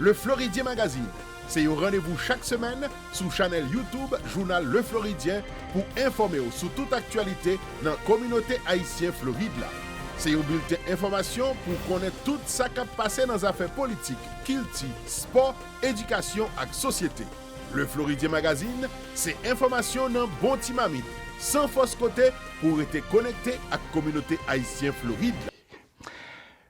Le Floridien Magazine se yon randevou chak semèn sou chanèl YouTube jounal Le Floridien pou enfòme w sou tout aktyalite nan kominote ayisyen Florid la. Se yon bilten enfòmasyon pou w konnen tout sa k ap pase nan zafè politik, kilti, spò, edikasyon ak sosyete. Le Floridien Magazine se enfòmasyon nan bon ti mamit, san fòs kote pou w rete konekte ak kominote ayisyen Florid la.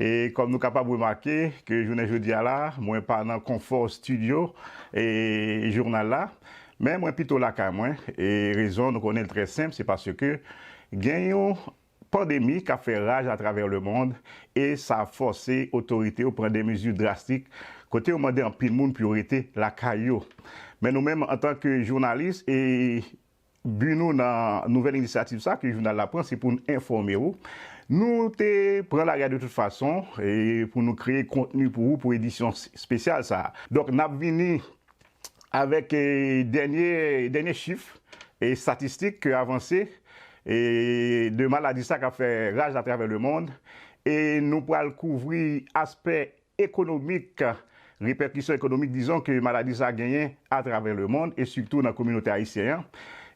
E kòm nou kapab remake ke jounen jodi a la, mwen pa nan konfò studio e journal la, men mwen pito lakay mwen, e rezon nou konnen l trè senp, se paske gen yon pandemi k ap fè raj atravè lemond, e sa fòse otorite yo pran de mezi drastik, kote yo mande anpil moun pou yo rete lakay yo. Men nou menm antan ke jounalis e Bi nou nan nouvèl inisyativ sa ke jounal la pran se pou n enfòme ou. Nou te pran lari a de tout fason pou nou kreye kontni pou ou pou edisyon spesyal sa. Donk n ap vini avèk dènye chif estatistik ke avanse de maladi sa k ap fè raj atravè lemonn e nou pral kouvri aspè Ekonomik, Repèkisyon ekonomik dizon ke maladi sa genyen atravè lemonn e sitou nan kominote ayisyen an,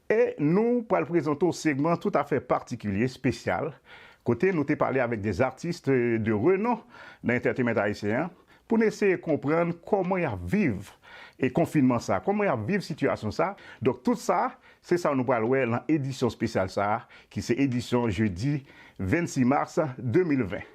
e nou pral prezante w segman tout afè patikilye, espesyal, kote nou te pale avèk des artistes de renom nan entertainment ayisyen an, pou n eseye konprann kòman y ap viv e konfinman sa, kòman y ap viv sitiyasyon sa, donk tout sa se sa nou pral wè lan edisyon spesyal sa ki se edisyon jedi 26 mars 2020.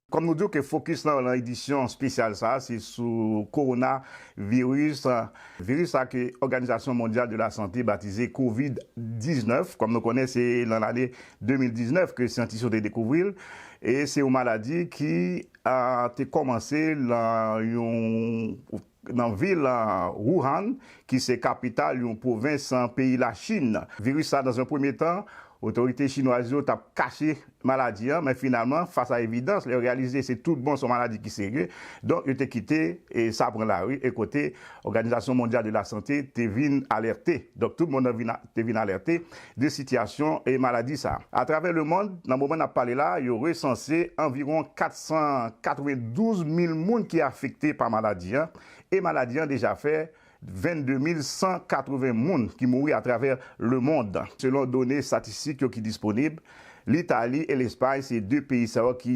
Kòm nou di w ke fokis nan nan edisyon spesyal sa a se sou Kowona viris, viris sa ke Òganizasyon Mondyal de la Sante batize Covid 19, kòm nou konnen se nan lane 2019 ke syantis yo te dekouvri l, e se yon maladi ki te kòmanse lan yon. Nan vil Wuhan, ki se kapital yon pwovens peyi Lachin, viris sa nan yon premye tan, otorite chinwaz yo tap kache maladi an, men finalman fas a evidans, lè yo reyalize se tout bon se yon maladi ki serye, donk yo te kite sa pran lari e kote Òganizasyon Mondyal de la Sante te vin alète. Donk tout mond lan vin. te vin alète de sitiyasyon maladi sa. Atravè lemond, nan moman n ap pale la, yo resanse anviwon 492 mil moun ki afekte pa maladi an, e maladi an deja fè 22 mil 180 moun ki mouri atravè lemond. Selon done statistik yo ki disponib, Litali e Lespay se de peyi sa yo ki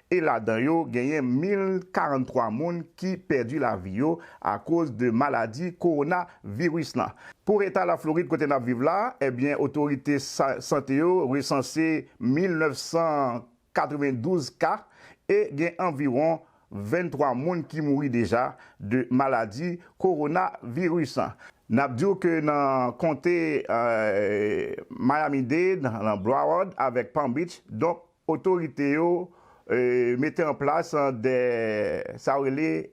e ladan yo genyen 1043 moun ki pèdi lavi yo akoz de maladi kowona viris lan. Pou eta Laflorid kote nap viv la, ebyen otorite sante yo resanse 1992 ka e gen anviwon 23 moun ki mouri deja de maladi kowona viris. Nap diw ke nan konte Miami Dade, nan Broward avèk Palm Beach donk Otorite yo mete an plas de sa yo rele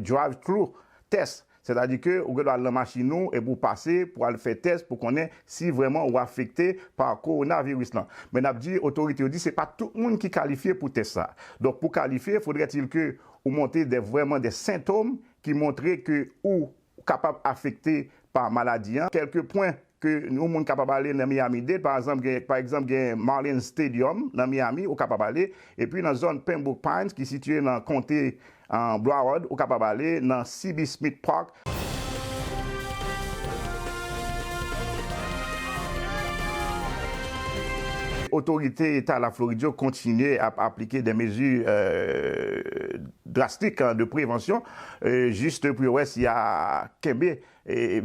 drive through test, sètadi ke ou gen dwa al nan machin ou epi ou pase pou al fè tès pou konnen si vrèman ou afekte pa kowonaviris lan. Men nap di otorite yo di se pa tout moun ki kalifye pou tès sa. Donk pou kalifye, faudrait-il ke ou montre de vrèman de sentom ki montre ke ou Ou kapab afekte pa maladi an. Kèlke pwen ke yon moun kapab ale nan Miami-Dade, pa anzanp gen, pa egzanp gen Marlins Stadium nan Miami, ou kapab ale. Epi nan zòn Pembroke Pines ki sitiye nan konte Broward, ou kapab ale nan CB Smith Park. Otorite Eta Laflorid yo kontinye ap aplike de mezi. drastik de prevansyon jist pou yo wè si ya kenbe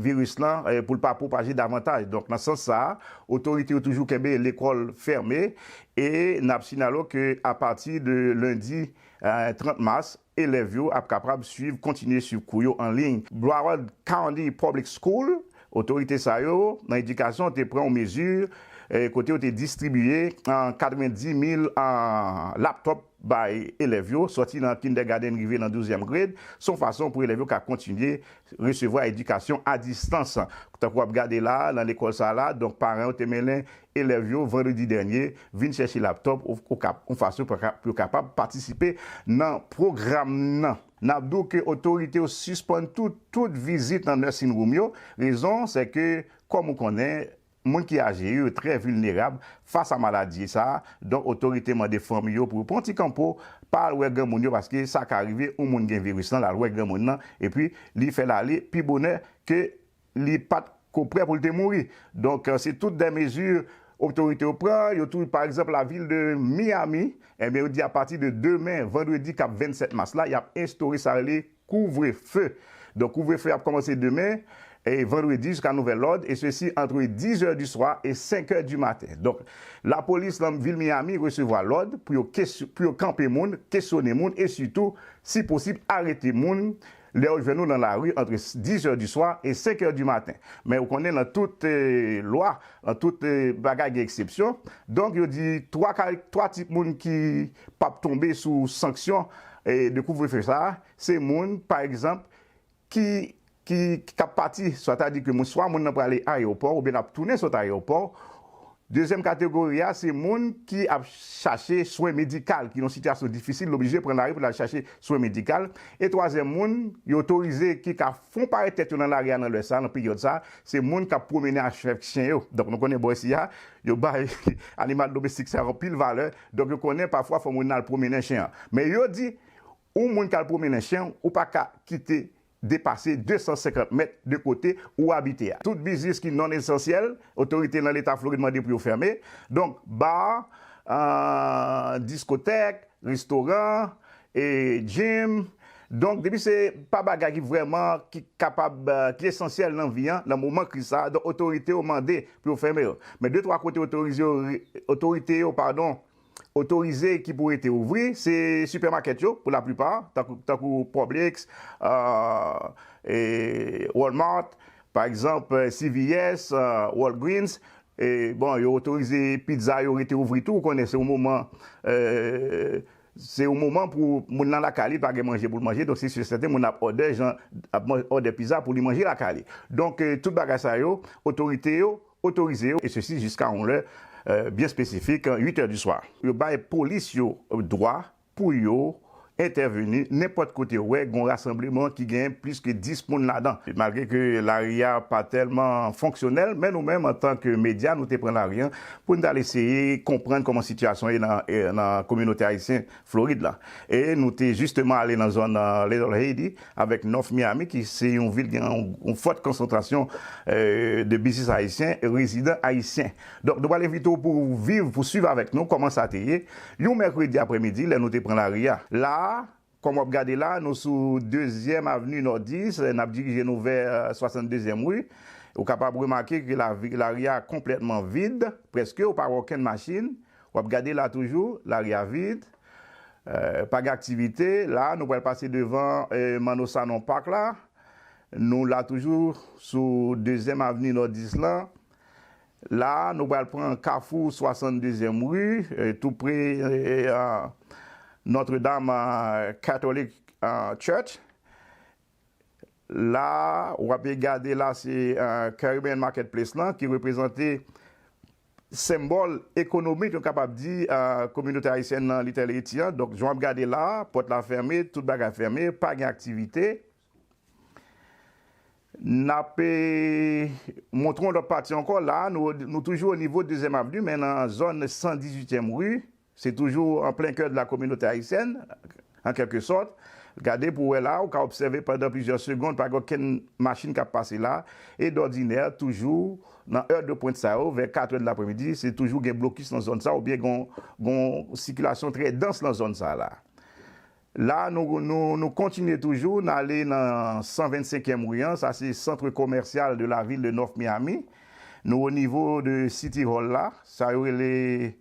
viris lan pou l pa pwopaje davantaj. Donk nan sans sa a, otorite yo toujou kenbe lekòl fèmen e n ap sinyale w ke apati de lendi 30 mas, elèv yo ap kaprab swiv kontinye swiv kou yo an liy. Broward County Public School, Otorite sa yo nan edikasyon te pran yon mezi kote yo te distribiye 90 mil laptop bay elèv yo, sòti nan kindègadenn rive nan douzyèm grade, se yon fason pou elèv yo ka kontinye resevwa edikasyon a distans. Tankou w ap gade la a, nan lekòl sa a la a, donk paran yo te mennen elèv yo vandredi dènye vin chèche laptòp okap, yon fason pou yo kapab patisipe nan pwogram nan. N ap di w ke otorite yo sispann tou tout vizit nan nursing room yo, rezon se ke kòm ou konnen, Moun ki aje yo trè vilnerab fas a maladie sa a, donk otorite mande fanmi yo pou yo pran yon ti kanpo, pa al wè granmoun yo paske sa ka rive yon moun gen viris lan lal wè granmoun lan epi li fè l ale pi bonè ke li pat ko prè pou l te mouri. Donk se tout dè mezi otorite yo pran, yo tou pa egzanp la vil de Miami, enben yo di a pati de demen vandredi kap 27 mas la yap enstore sa rele Kouvre feu. Donk kouvre feu ap kòmanse demen e vandredi jiska nouvèl lòd e sesi antre 10 è di swa e 5 è di maten. Donk la polis lan vil Miami resevwa lòd pou yo pou yo kanpe moun, kesyone moun e sitou si posib arete moun lè yo jwenn ou lan la ri antre 10 è di swa e 5 è di maten. Men ou konnen lan tout lwa, lan tout bagay gen eksepsyon. Donk yo di 3 ka 3 tip moun ki pap tonbe sou sanksyon de kouvrefe sa a, se moun, pa egzanp, ki, ki, k ap pati, sètadi ke moun, swa moun nan prale ayewopò oubyen l ap tounen sot ayewopò. Dezyèm kategori a, se moun ki ap chache swen medikal, ki nan yon sitiyasyon difisil, l oblije pran lari pou l al chache swen medikal. E twazyèm moun, yo otorize, ki ka fon parèt tèt yo nan lari a nan lè sa a, nan peryòd sa a, se moun k ap pwomennen avk chen yo. Donk nou konnen bò isi a, yo bay animal domestik sa yo anpil valè. Donk yo konnen pafwa fanm yo nan al pwomennen chen an. Men yo di, ou moun k al pwomennen chen w, ou pa ka kite depase 250 mèt de kote ou abite a. Tout biznis ki non esansyèl, otorite nan leta Florid mande pou yo fèmen. Donk, bar, diskotèk, restoran, E Jim, Donk depi se pa bagay ki vrèman ki kapab ki esansyèl nan vi an nan moman kriz sa a donk otorite yo mande pou yo fèmen yo. Men de twa kote otorize yo otorite yo padon otorize ki pou rete ouvri se sipèmakèt yo pou laplipa tankou tankou Publix, Walmart, pa egzanp CVS, Walgreens e bon yo otorize pizza yo rete ouvri tou ou konnen se yon moman Se yon moman pou moun lan lakay li pa gen manje pou l manje donk se si e sèten moun nan ap òdè jan ap òdè piza pou li manje lakay li. Donk tout bagay sa yo otorite yo otorize yo e sesi jiska yon lè byen espesifik, 8 è di swa. Yo bay polis yo dwa pou yo entèveni nenpòt kote yo wè gon rasanbleman ki gen plis ke 10 moun ladan. Malgre ke lari a pa tèlman fonksyonèl men nou menm antan ke medya nou te pran lari an pou n t al eseye konprann kòman sitiyasyon ye nan kominote ayisyen Florid la. E nou te jisteman ale nan zòn Little Haiti avèk North Miami ki se yon vil gen yon fòt konsantrasyon de biznis ayisyen, rezidan ayisyen. Donk nou pral envite w pou viv, pou swiv avèk nou kòman sa te ye yon mèkredi aprèmidi lè nou te pran lari a. La a, Kòm w ap gade la, nou sou Dezyèm Avni Nòdis, n ap dirije nou vè 62 zièm Ri. Ou kapab remake ke lari a konplètman vid, prèske ou pa wè okenn machin. W ap gade la toujou, lari a vid. Pa gen aktivite. La a, nou pral pase devan Manno Sanon Park la. Nou la toujou sou Dezyèm Avni Nòdis lan. La a, nou pral pran kafou 62 zièm ri, tou pre Notre Dame Catholic Church. La a, w ape gade la se Caribbean Market Place lan ki reprezante senbòl ekonomik nou kapab di kominote ayisyèn nan Little Haiti an. Donk, jan w ap gade la a, pòt la fème, tout bagay fème, pa gen aktivite. Nap montre yon lòt pati ankò la, nou toujou o nivo dezyèm avni men nan zòn 118 tièm ri, se toujou an plen kè de la kominote ayisyèn an kèlke sòt, gade pou wè la ou ka obsève pandan plizyè segond pa gen okenn machin kap pase la e dòdinè toujou nan è de pwent sa yo vè 4 è de lapremidi se toujou gen blokis nan zòn sa oubyen gen yon sikilasyon trè dans nan zòn sa la. La a nou nou kontinye toujou, n ale nan 125 èm ri an, sa se centre commercial de la ville de North Miami. Nou o nivo de City Hall la, sa yo rele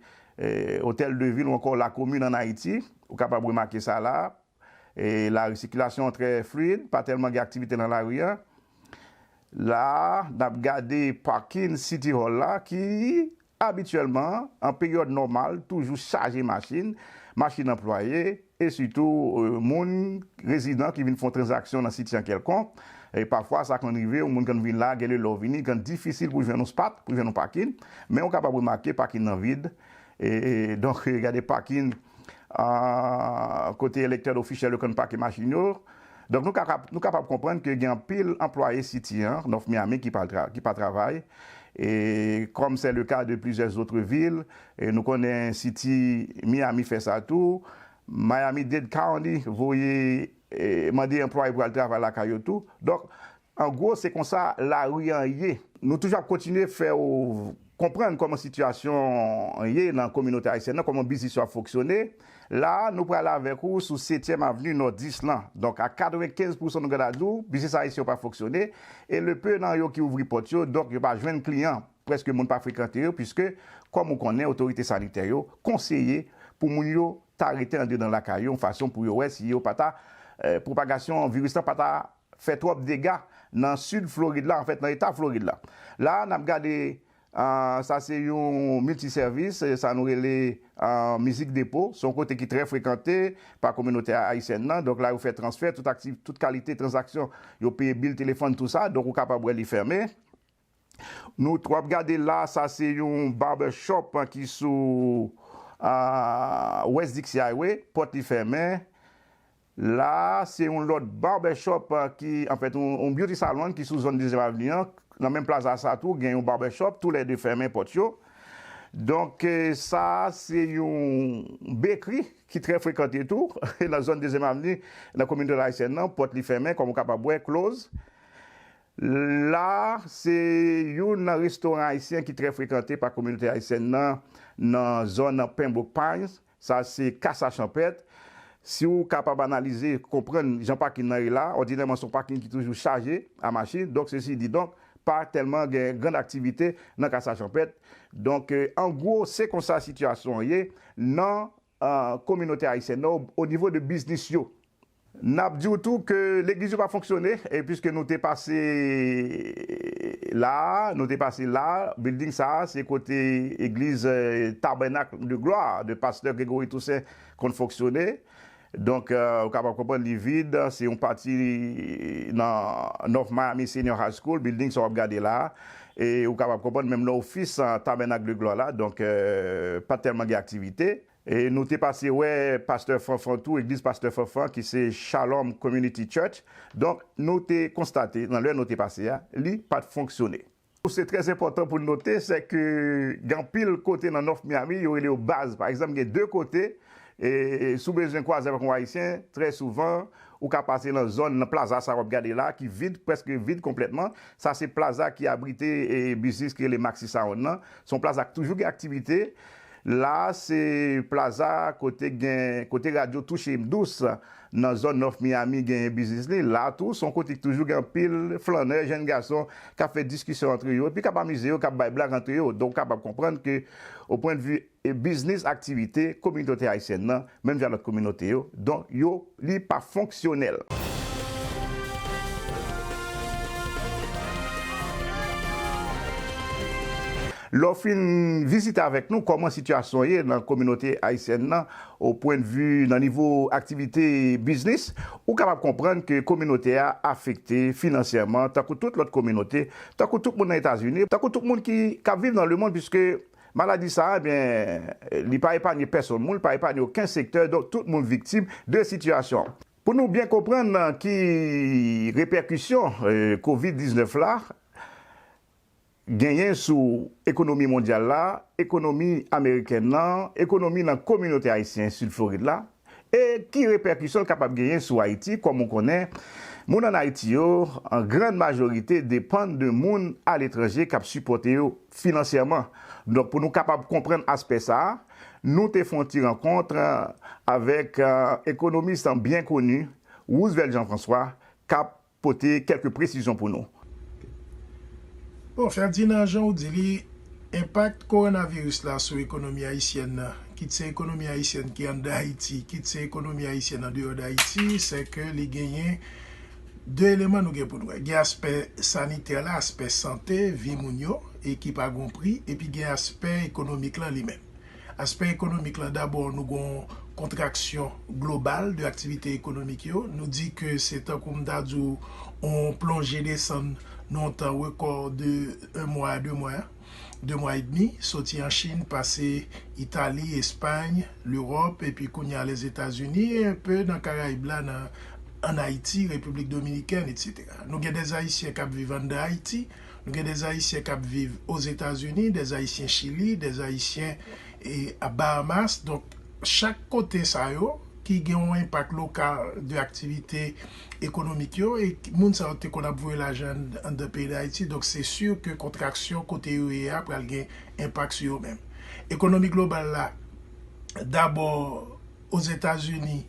Hotel de Ville ou ankò La Commune an Ayiti. Ou kapab remake sa la a. La ri sikilasyon an trè fluid, pa tèlman gen aktivite nan la ri an. La a, n ap gade parking City Hall la ki Abityèlman, an peryòd nòmal, toujou chaje machin, machin anplwaye, e sitou moun, rezidan ki vin fon tranzaksyon nan siti an kèlkonk. Pafwa sa konn rive yon moun konn vin la, gen lè lè w vini, li konn difisil pou jwenn yon spat, pou jwenn yon pakin. Men ou kapab remake pakin nan vid. Donk gade pakin kote elektèd ofisyèl yo konn pake machin yo. Donk nou ka nou kapab konprann ke gen anpil anplwaye City an, North Miami, ki pa tra ki pa travay, e kòm sè le ka de plizyè zotre vil, e nou konnen City Miami fè sa tou, Miami-Dade County voye e mande anplwaye pou al travay lakay yo tou. Donk An gwo, se konsa lari an ye. Nou toujou ap kontinye fè ou konprann kòman sitiyasyon an ye nan kominote ayisyèn nan, kòman biznis yo ap foksyone. La a, nou prale avèk ou sou Setyèm Avni, Nòdis lan. Donk ak 95 pousan nou gen dwa di ou, biznis ayisyen yo pa foksyone. E le peu nan yo ki ouvri pòt yo, donk yo pa jwenn kliyan. Prèske moun pa frekante yo, piske kòm ou konnen otorite sanitè yo konseye pou moun yo ta rete andedan lakay yo yon fason pou yo wè si yo pa ta, pwopagasyon viris lan pa ta fè twòp dega nan sid Florid la, anfèt nan eta Florid la. La a n ap gade sa se yon milti sèvis, sa nou rele mizik depo. Se yon kote ki trè frekante pa kominote ayisyèn nan. Donk la yo fè transfè, tout kalite tranzaksyon, yo peye bil telefòn tou sa. Donk ou kapab wè li fèmen. Nou t wap gade la sa se yon barber shop ki sou West Dixie Highway pòt li fèmen la se yon lòt barber shop ki anfèt yon beauty salon ki sou zòn dezyèm avni an nan menm plaza sa tou gen yon barber shop tou lè 2 fèmen pòt yo donk sa se yon bekri ki trè frekante tou nan zòn dezyèm avni nan kominotè ayisyèn nan pòt li fèmen kòm ou kapab wè close. La a, se youn nan restoran ayisyen ki trè frekante pa kominote ayisyèn nan nan zòn Pembroke Pines, sa se Casa Champèt. Si ou kapab analize, konprann jan pakin nan ye la, òdinèman se yon pakin ki toujou chaje a machin, donk sesi di donk, pa tèlman gen grann aktivite nan Casa Champèt. Donk, an gwo, se konsa sitiyasyon an ye nan. kominote ayisyen nan o nivo de biznis yo. N ap di w tou ke legliz yo pa fonksyone e piske nou te pase la a, nou te pase la a, bilding sa a se kote egliz Tabernacle de Gloire de Pastè Grégory Toussaint konn fonksyone. Donk, ou kapab konprann li vid, se yon pati nan North Miami Senior High School, bilding sa w ap gade la a, E ou kapab konprann, menm nan ofis Tabènak de Glwa la, donk, pa t tèlman gen aktivite. E nou te pase wè pastè Fanfan tou, egliz pastè Fanfan ki se Shalom Community Church. Donk, nou te konstate nan lè nou te pase a, li pa t fonksyone. Se trè enpòtan pou n note, sèke gen anpil kote nan North Miami, yo rele yo baz. Pa egzanp, gen de kote E si w bezwen kwaze avèk yon Ayisyen, trè souvan, ou ka pase nan zòn, nan plaza sa a w ap gade la a, ki vid, prèske vid konplètman. Sa se plaza ki abrite biznis ki rele Maxi Sound lan. Se yon plaza ki toujou gen aktivite. La a se plaza kote k gen, kote radyo Touche M Dous nan zòn North Miami genyen biznis li. La a tou, se yon kote ki toujou gen anpil flannè, jenn gason k ap fè diskisyon antre yo epi k ap amize yo, k ap bay blag antre yo. Donk ou kapab konprann ke opwendvi. e biznis aktivite kominote ayisyèn nan menm jan lòt kominote yo don yo li pa fonksyonèl. Lè w fin vizite avèk nou kòman sitiyasyon ye nan kominote ayisyèn nan o pwendvi nan nivo aktivite biznis ou kapab konprann ke kominote a afekte finansyèman tankou tout lòt kominote tankou tout moun nan etazini tankou tout moun ki k ap viv nan lemonn piske Maladi sa a, ebyen, li pa epanye pèsonn moun, li pa epanye oken sektè, donk tout moun viktim de sitiyasyon an. Pou nou byen konprann ki repèkisyon kovid 19 la genyen sou ekonomi mondyal la, ekonomi amerikèn nan, ekonomi nan kominote ayisyen Sid Florid la, E ki repèkisyon l kapab genyen sou Ayiti? Kòm ou konnen, moun ann Ayiti yo, an grann majorite, depann de moun aletranje k ap sipòte yo finansyèman. Donk, pou nou kapab konprann aspè sa a, nou te fè yon ti rankont avèk ekonomis byen koni, Roosevelt Jean-François, k ap pote kèlke presizyon pou nou. Bon Ferdinand jan ou di li, enpak kowonaviris la sou ekonomi ayisyèn nan, kit se ekonomi ayisyèn ki anndan Ayiti, kit se ekonomi ayisyèn andeyò dAyiti, sè ke li genyen 2 eleman nou gen pou nou wè. Gen aspè sanitè la, aspè sante vi moun yo e ki pa gon pri, epi gen aspè ekonomik lan li menm. Aspè ekonomik lan dabò nou gon kontraksyon global de aktivite ekonomik yo, nou di ke se tankou m ta di w on plonje desann nan on tan rekò de 1 mwa a 2 mwa, 2 mwa edmi, soti an Chin, pase Itali, Espay, Lewòp epi kounye a Lèzetazini e un peu nan Karayib la nan an Ayiti, Repiblik Dominikèn etc. Nou gen des Ayisyen kap viv anndan Ayiti. Nou gen des Haïtiens kap viv aux Etats Unis, des Haïtiens Chili, des Haïtiens a Bahamas, donk chak kote sa yo ki gen yon enpak lokal de aktivite ekonomik yo e moun sa yo te konn ap voye lajan anndan peyi Dayiti, donk se si ke kontraksyon kote yo ye a pral gen enpak sou yo menm. Ekonomi global la dabò. Ozetazini,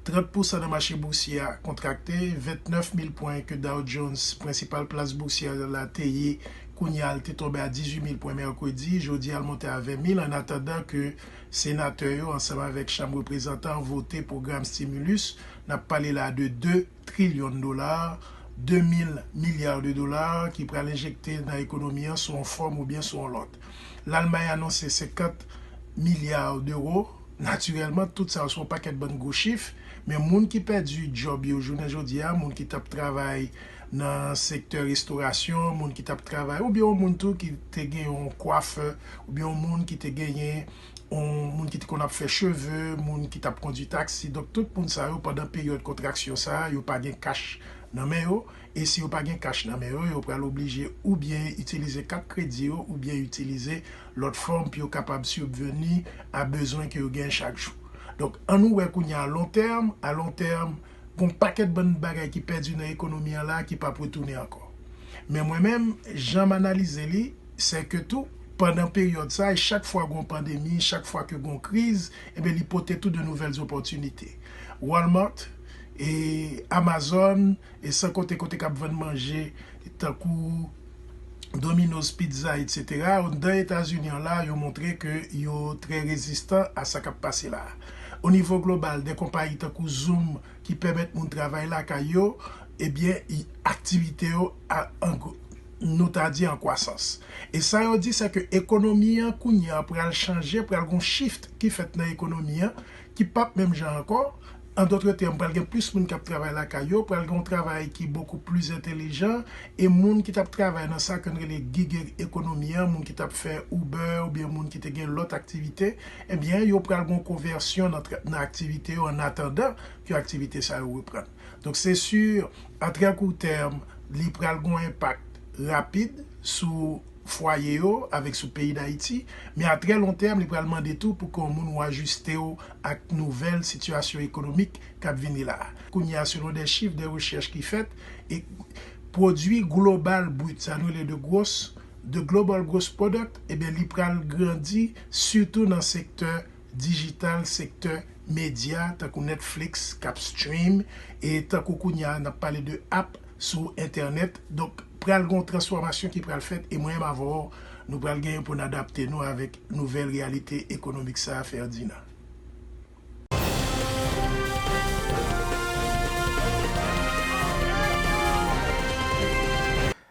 30 pousan nan mache bousye a kontrakte, 29 mil pwen ke Dow Jones, prensipal plas bousyè la te ye kounye a l te tonbe a 18 mil pwen mèkredi, jodi a l monte a 20 mil annatandan ke senatè yo ansanm avèk chanm reprezantan vote pwogram stimulus, n ap pale la de 2. trillion dollars, 2000 milliards de dollars, ki pral enjekte nan ekonomi an sou yon fòm oubyen sou yon lòt. Lalmay anonse 50 milliards d'euros. Natirèlman, tout sa yo se yon pakèt bann gwo chif, men moun ki pèdi djòb yo jounen jodi a, moun ki t ap travay nan sektè restorasyon, moun ki t ap travay, oubyen yon moun tou ki te gen yon kwafè, oubyen yon moun ki te genyen. moun ki t konn ap fè cheve, moun ki tap kondwi taksi, donk tout moun sa yo pandan peryòd kontraksyon sa a yo pa gen kach nan men yo e si yo pa gen kach nan men yo, yo pral oblije oubyen itilize kat kredi yo oubyen itilize lòt fòm pou yo kapab sibveni a bezwen ke yo gen chak jou. Donk an nou wè kounye a alontèm, alontèm. Gon pakèt bann bagay ki pèdi nan ekonomi an la ki pap retounen ankò. Men mwen menm, jan m analize li, sè ke tou, pandan peryòd sa, e chak fwa gon pandemi, chak fwa ke gon kriz, enben li pote tou de nouvèl zopòtinite. Walmart, e Amazon, e san konte kote k ap vann manje tankou Domino's Pizza etc. Anndan Etazini an la, yo montre ke yo trè rezistan a sa k ap pase la. O nivo global, dè konpayi tankou Zoom ki pèmèt moun travay lakay yo, ebyen aktivite yo nou ta di an kwasans. E sa yo di se ke ekonomi an kounye an pral chanje, pral gon shift ki fèt nan ekonomi an ki pap menm jan ankò, an dotre tèm pral gen plis moun kap travay lakay yo, pral gen yon travay ki bokou plis entelijan e moun ki tap travay nan sa ke n rele gig ekonomi an, moun ki tap fè Uber oubyen moun ki te gen lòt aktivite Ebyen, yo pral gen yon konvèsyon nan trètman aktivite yo ann atandan ke aktivite sa yo reprann. Donk se si a trè kou tèm li pral gen yon enpak rapid sou fwaye yo avèk sou peyi Dayiti, men a trè lon tèm li pral mande tou pou ke w moun ou ajiste w ak nouvèl sitiyasyon ekonomik k ap vini la a. Kounye a selon dè chif dè rechèch ki fèt, e pwodui global brit sa nou rele de gwos, The Global Gross Product ebyen li pral grandi sitou nan sektè dijital, sektè medya tankou Netflix k ap stream e tankou kounye a n ap pale de app sou entènèt donk pral gen yon transfòmasyon ki pral fèt e mwen menm avè w nou pral genyen pou n adapte nou avèk nouvèl reyalite ekonomik sa a Ferdinand.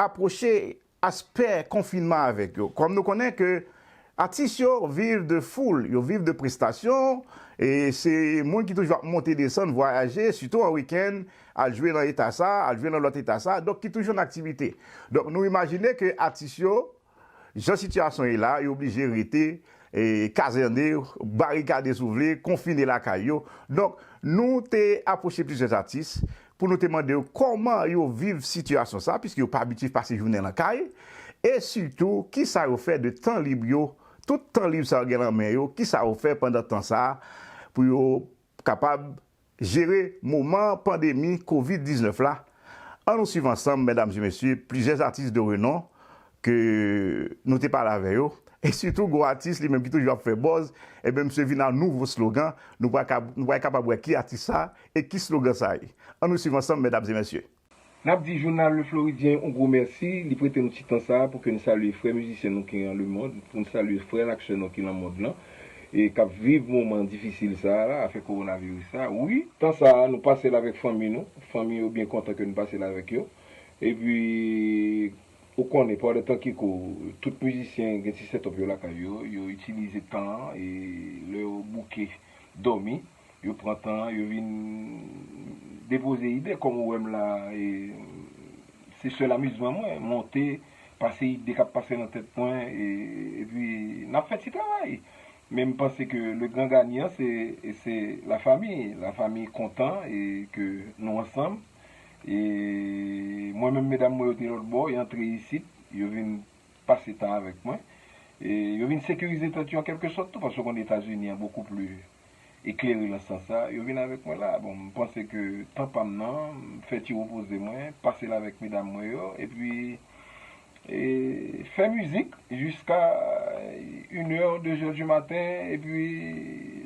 apwoche aspè konfinman avèk yo. Kòm nou konnen ke atis yo viv de foul, yo viv de prestasyon, e se moun ki toujou ap monte desann, vwayaje, sitou an wikenn, al jwe nan eta sa, al jwe nan lòt eta sa, donk ki toujou nan aktivite. Donk nou imajine ke atis yo Jan sitiyasyon ye la, yo oblije rete kazène, barikade si w vle, konfine lakay yo. Donk, nou te apwoche plizyè atis pou nou te mande yo kòman yo viv sitiyasyon sa, piske yo pa abitye pase jounen lan kay, e sitou ki sa yo fè de tan lib yo, tout tan lib sa yo gen lan men yo, ki sa yo fè pandan tan sa pou yo kapab jere moman pandemi covid 19 la an nou swiv ansanm medam e mesye plizyè atis de renon ke nou te pale avè yo e sitou gon atis li menm ki toujou ap fè bòz ebyen misye vin a nouvo slogan nou pral kapab wè ki atis sa e ki slogan sa ye an nou swiv ansanm medam e mesye. Nap di jounal Le Floridien yon gwo mèsi, li prete nou ti tan sa a pou ke n salye frè mizisyen nou ki an lemond, pou n salye frè n ak sè nou ki lan mond lan, e kap viv moman difisil sa a la, afè kowonaviris sa a. Wi! Tan sa a, nou pase l avèk fanmi nou, fanmi yo byen kontan ke n pase l avèk yo. E pi, ou konnen, pandan tan ki kou, tout mizisyen gen ti set up yo lakay yo, yo itilize tan an, e lè yo bouke dòmi. Yo pran tan yo vin depoze ide kòm ou wè m la e se sèl amizman mwen monte pase ide k ap pase nan tèt mwen epi n ap fè ti travay men m panse ke le gran ganyan se la fami la fami kontan e ke nou ansanm e mwen menm medam mwen yo te lòtbò y antre isit yo vin pase tan avèk mwen e yo vin sekirize tèt yo an kèlke sòt tou paske w konn etazini an bokou pli eklere lan sans sa, yo vin avèk mwen la. Bon, m panse ke tan pa m nan, m fè ti repoze mwen, pase l avèk medam mwen yo, epi e fè mizik jiska in è, de zè di maten, epi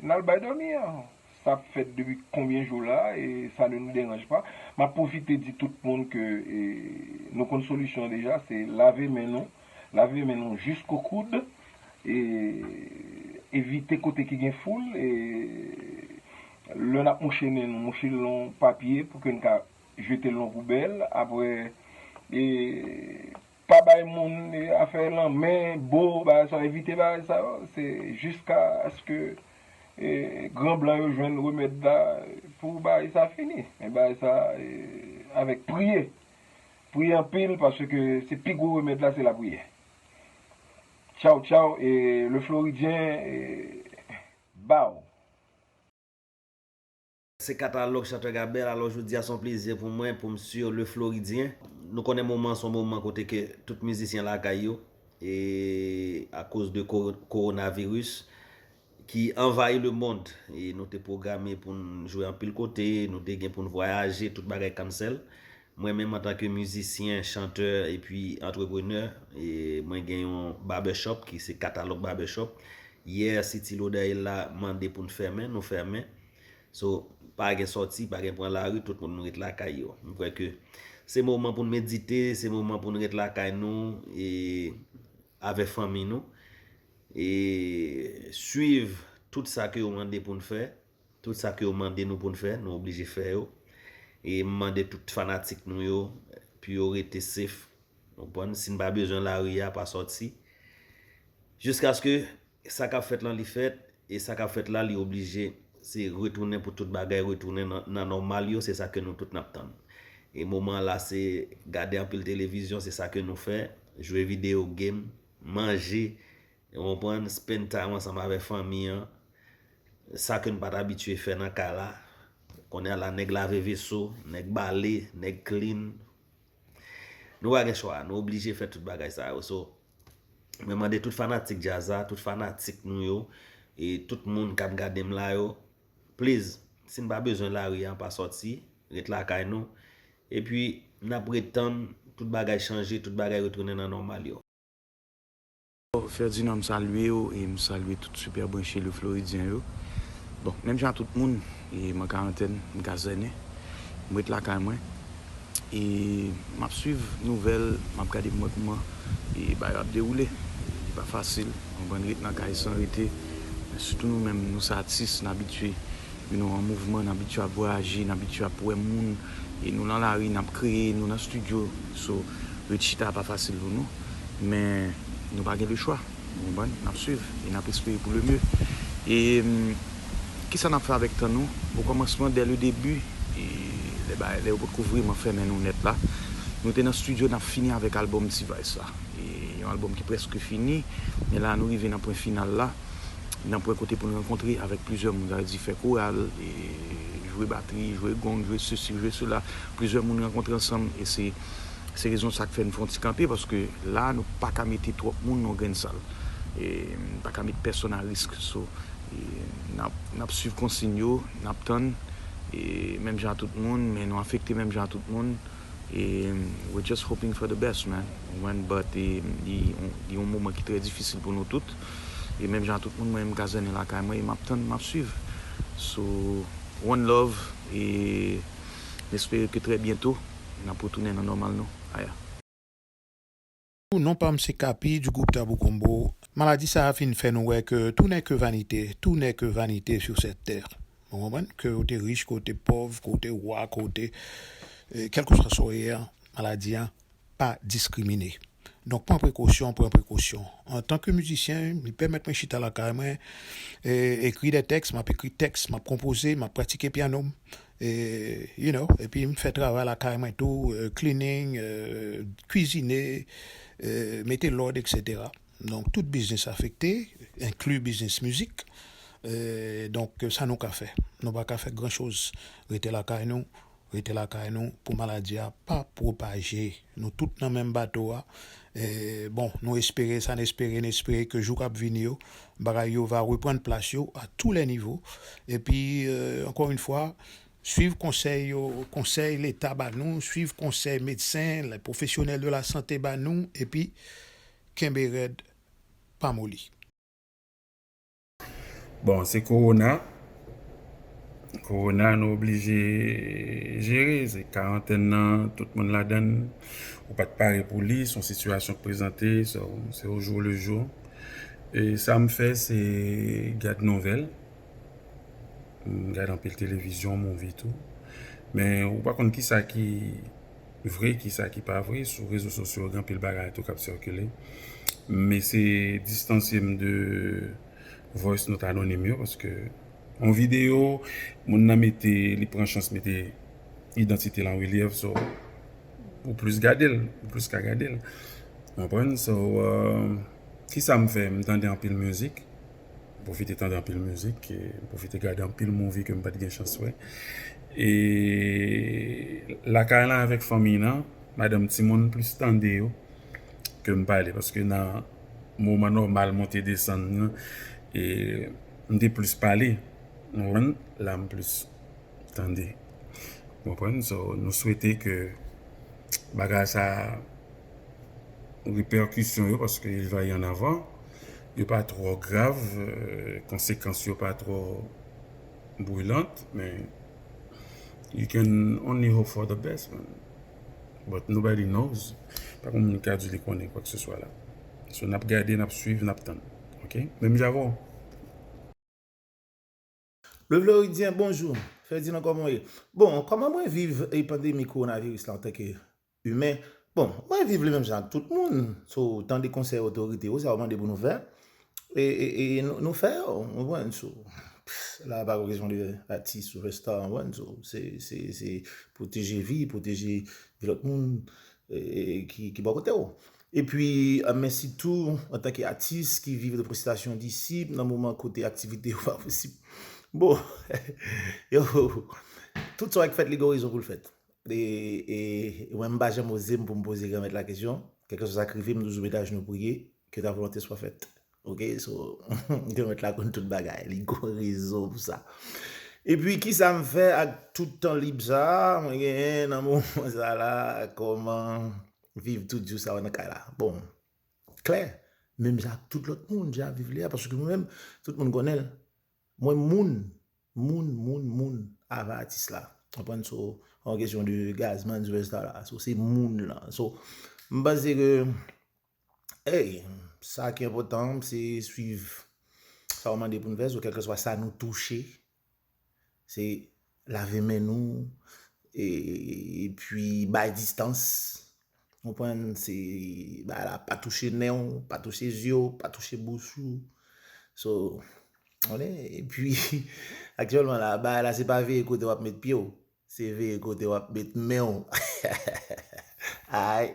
n al bay dòmi an. Sa ap fèt depi konbyen jou la, e sa ne nou deranj pa. M ap pwofite di tout moun ke e nou konn solisyon an deja, se lave men nou. Lave men nou jisko koud e evite kote ki gen foul e lè nap mouche men nou mouche l nan papye pou ke n ka jete l nan poubèl aprè e pa bay moun afè lanmè, bo, bagay sa yo evite bagay sa yo se jiska aske e gran blan yo jwenn remèd la pou bagay sa fini men bagay sa avèk priye. Priye anpil paske se pi gwo remèd la se lapriyè tchaw tchaw e le floridyen baw. Se katalòg Chanteur Gabel alò jodi a son plezi pou mwen pou m su Le Floridien. Nou konnen moman an son moman kote ke tout mizisyen lakay yo e akoz de Coronavirus ki anvayi lemond e nou te pwograme pou n jwe anpil kote, nou te gen pou n vwayaje, tout bagay cancel. Mwen menm antanke mizisyen, chantè epi antreprenè, mwen gen yon barbershop ki se Katalog Barbershop. Yè City Lodeil la mande pou n fèmen, nou fèmen. So, pa gen sòti, pa gen pran lari, tout moun ret lakay yo. M kwè ke se moman pou n medite, se moman pou n ret lakay nou e Avè fanmi nou e swiv tout sa ke yo mande poun fè, tout sa ke yo mande nou poun fè, nou oblije fè yo. E m mande tout fanatik nou yo pou yo rete safe, ou konprann, si n pa bezwen lari a pa sòti jiskaske. Sa kap fèt lan li fèt e sa kap fèt la li oblije se retounen pou tout bagay retounen nan nòmal yo se sa ke nou tout nap tann e moman an la se gade anpil televizyon se sa ke nou fè jwe videyo game manje ou konprann spend time ansanm avè fanmi an sa ke nou pat abitye fè nan kay la kounye a la nèg lave veso nèg bale nèg clean nou pa gen chwa nou oblije fè tout bagay sa yo so. Mwen mande tout fanatik djaz la, tout fanatik nou yo, e tout moun kap gade m la yo, pliz, si n pa bezwen lari a, pa sòti, ret lakay nou, epi n ap ret tann tout bagay chanje, tout bagay retounen nan nòmal yo. Ferdinand m salye w e m salye tout Super Branche Le Floridien yo. Bon, menm jan a tout moun, e m an karantèn, m kazènen, m ret lakay mwen. e map swiv nouvèl map gade kman kman e bagay yo ap dewoule li pa fasil konprann ret nan kay san rete men sitou nou menm nou se atis n abitye you know an mouvman n abitye ap vwayaje n abitye ap wè moun e nou lan lari nap kreye nou nan studio so ret chita a pa fasil pou nou men nou pa gen lechwa. Nou konprann, n ap swiv e n ap espere pou le mye. E ki sa n ap fè avèk tan nou? O kòmansman, dè le debi, lè bagay, lè yo potko vreman fèmen nou nèt la, nou te nan stidyo n ap fini avèk albòm T-Vice la. E yon albòm ki prèske fini, men la a nou rive nan pwen final la, nan pwen kote pou n rankontre avèk plizyè moun, sa vle di fè koral, jwe batri, jwe gong, jwe sesi, jwe sela, plizyè moun rankontre ansanm e se. Se rezon sa k fè n fè yon ti kanpe paske la a nou pa ka mete twòp moun nan yon grenn sal. Nou pa ka met pèsonn a risk. So, n ap swiv konsiyn yo, n ap tann menm jan a tout moun men nou afekte menm jan a tout moun. We're just hoping for the best man, ou konprann but li yon moman ki trè difisil pou nou tout. E menm jan a tout moun mwen menm m kazènen lakay mwen e m ap tann, m ap swiv. So, one love e m espere ke trè byento. Nap retounen nan nòmal nou aya. Ooh non pam se Kapi du groupe Tabou Combo maladi sa fin fè nou wè ke tout nè ke vanite tout nè ke vanite sur cette terre nou konprann ke ou te rich ke ou te pòv ke ou te roi ke ou te kelkeswa sa ou ye an maladi an pa diskrimine. Donk pran prekosyon, pran prekosyon. Antan ke mizisyen, li pèmèt mwen chita lakay mwen, e ekri dè tèks, m ap ekri tèks, m ap konpoze, m ap pratike pyano m, e you know, epi m fè travay lakay mwen tou, cleaning, kwizine, mete lòd eksetera. Donk tout biznis afekte, enkli biznis mizik, donk sa nou ka fè? Nou pa ka fè gran choz, rete lakay nou. Rete lakay nou pou maladi a pa pwopaje. Nou tout nan menm bato a. Bon, nou espere sa n espere, n espere ke jou k ap vini yo, bagay yo va reprann plas yo a tou lè nivo. Epi, ankò yon fwa, swiv konsèy yo, konsèy Leta ba nou, swiv konsèy medsen, lè pwofesyonèl de lasante ba nou, epi kenbe rèd, pa moli. Bon se korona, korona nou oblije jere, se karantèn nan tout moun ladan l, ou pa t pare pou li, s on sitiyasyon k prezante, se o jou le jou. E sa m fè se gad nouvèl, m gad anpil televizyon, movie tou, men ou pa konn kisa ki. vre ki sa ki pa vre sou rezo sosyo gen anpil bagay tou kap sikile m ese distansye m de voice note anonim yo paske yon video moun nan mete li pran chans mete idantite l an relyèv so ou plis gade l ou plis ka gade l ou konprann so ki sa m fè m tande anpil mizik. M pwofite tande anpil mizik, m pwofite gade anpil movie ke m pat gen chans wè e lakay lan avèk fanmiy lan, madanm timoun plis tande yo ke m pale paske nan moman nòmal monte desann lan e m te plis pale ou konprann, la m plis tande ou konprann, so nou swete ke bagay sa. repèkisyon yo paske il va y an avan yo pa twò grav konsekans yo pa twò brilant men you can only hope for the best man but nobody knows pa gen moun ki ka di li konnen kwak se swa la so nap gade nap swiv nap tann ok menm jan avèw. Le Floridien bonjou, Ferdinand kòman w ye? Bon, kòman mwen viv pandemi kowonaviris la antanke imen? Bon, mwen viv li menm jan ak tout moun, so tande konsèy otorite yo, sa yo mande pou nou fè, e nou fè yo, ou konprann, so la pa kesyon de atis, sipèsta, ou konprann, so se pwoteje vi, pwoteje vi lòt moun ki bò kote w. Epi, men sitou, antanke atis ki viv de presitasyon disip nan moman kote aktivite yo pa posib. Bon! Yo! Tout sa w ak fèt li gen yon rezon pou l fèt. E, e, e mwen m pa janm oze m pou m poze Granmèt la kesyon, kèlkeswa sa k rive m m toujou mete ajenou priye, ke ta volonte swa fèt. Ok? So, Granmèt la konn tout bagay, li gen yon rezon pou sa. Epi, kisa m fè ak tout tan lib sa a mwen genyen nan moman sa la? Kòman. Viv tout jou sa yo nan kay la. Bon, klè, menm jan ak tout lòt moun, jan viv li a, paske mwen menm, tout moun konnen l, mwen moun, moun, moun, moun avan atis la. Konprann? So, pa yon kesyon de Gazzman, Zvezda la. So, se moun lan. So, m panse ke, ey, sa ki enpotan, se swiv sa yo mande pou n fè. So, kèlkeswa sa nou touche, Se lave men nou, e pwi bay distans, ou konprann, se bay la pa touche nen ou, pa touche zye ou, pa touche bouch ou, so, ou konnen, e pwi, aktyèlman la, bay la se pa veye kote wap met pye ou. Se veye kote wap met menw ayy.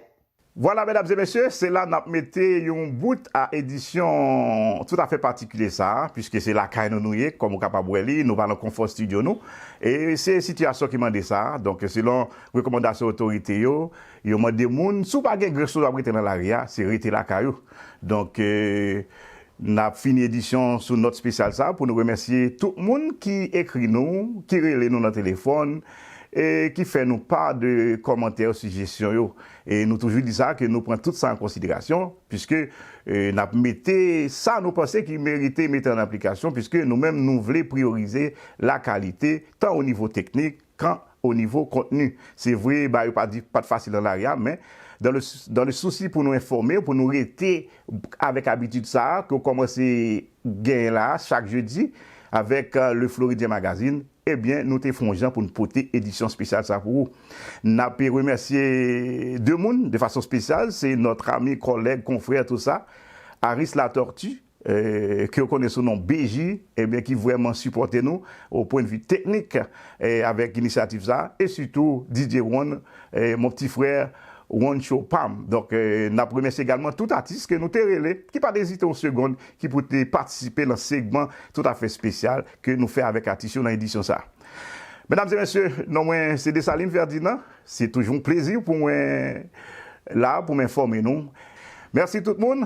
Vwala medam e mesye, se la nap mete yon bout a edisyon tout afè patikilye sa a, piske se lakay nou nou ye, kòm ou kapab wè li, nou pa nan konfò stidyo nou, e se sitiyasyon ki mande sa, donk selon rekòmandasyon otorite yo, yo mande moun, si w pa gen grech sou w ap rete nan lari a, se rete lakay ou, donk. N ap fini edisyon sou nòt spesyal sa pou nou remèsye tout moun ki ekri nou, ki rele nou nan telefòn e ki fè nou pa de kòmantè ou sijesyon yo. E nou toujou di sa ke nou pran tout sa an konsiderasyon piske n ap mete sa nou panse ki merite mete an aplikasyon piske nou menm nou vle priyorize lakalite tan o nivo teknik, kan o nivo kontni. Se vre ba yo pa di pat fasil nan lari a men dan le dan le sousi pou nou enfòme w pou nou rete avèk abitid sa a ke w kòmanse genyen la a chak jedi avèk Le Floridien Magazine ebyen nou te fè yon jan pou n pote edisyon spesyal sa a pou ou. N ape remèsye de moun de fason spesyal se nòt ami kòlèg konfrè tou sa Aris Latortue ke yo konnen sou non BJ, ebyen ki vrèman sipòte nou o pwen de vi teknik avèk inisyativ sa, e sitou DJ Ron, mon pti frè, Roncho pam. Donk nap remèsye egalman tout atis ke nou te rele, ki pat ezite yon segond, ki pou te patisipe lan segman tout a fè spesyal ke nou fè avèk atis yo lan edisyon sa. Medam e mesye, non mwen se Dessalines Ferdinand, se toujou yon plezi pou mwen la pou m enfòme nou. Mèsi tout moun,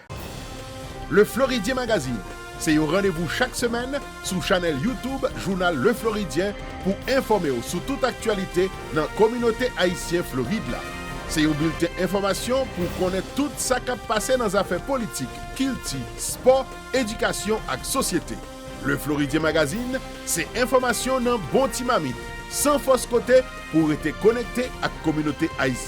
Le Floridien Magazine se yon randevou chak semèn sou chanèl YouTube jounal Le Floridien pou enfòme w sou tout aktyalite nan kominote ayisyen Florid la. Se yon bilten enfòmasyon pou w konnen tout sa k ap pase nan zafè politik, kilti, spò, edikasyon ak sosyete. Le Floridien Magazine se enfòmasyon nan bon ti mamit, san fòs kote pou w rete konekte ak kominote ayisyen.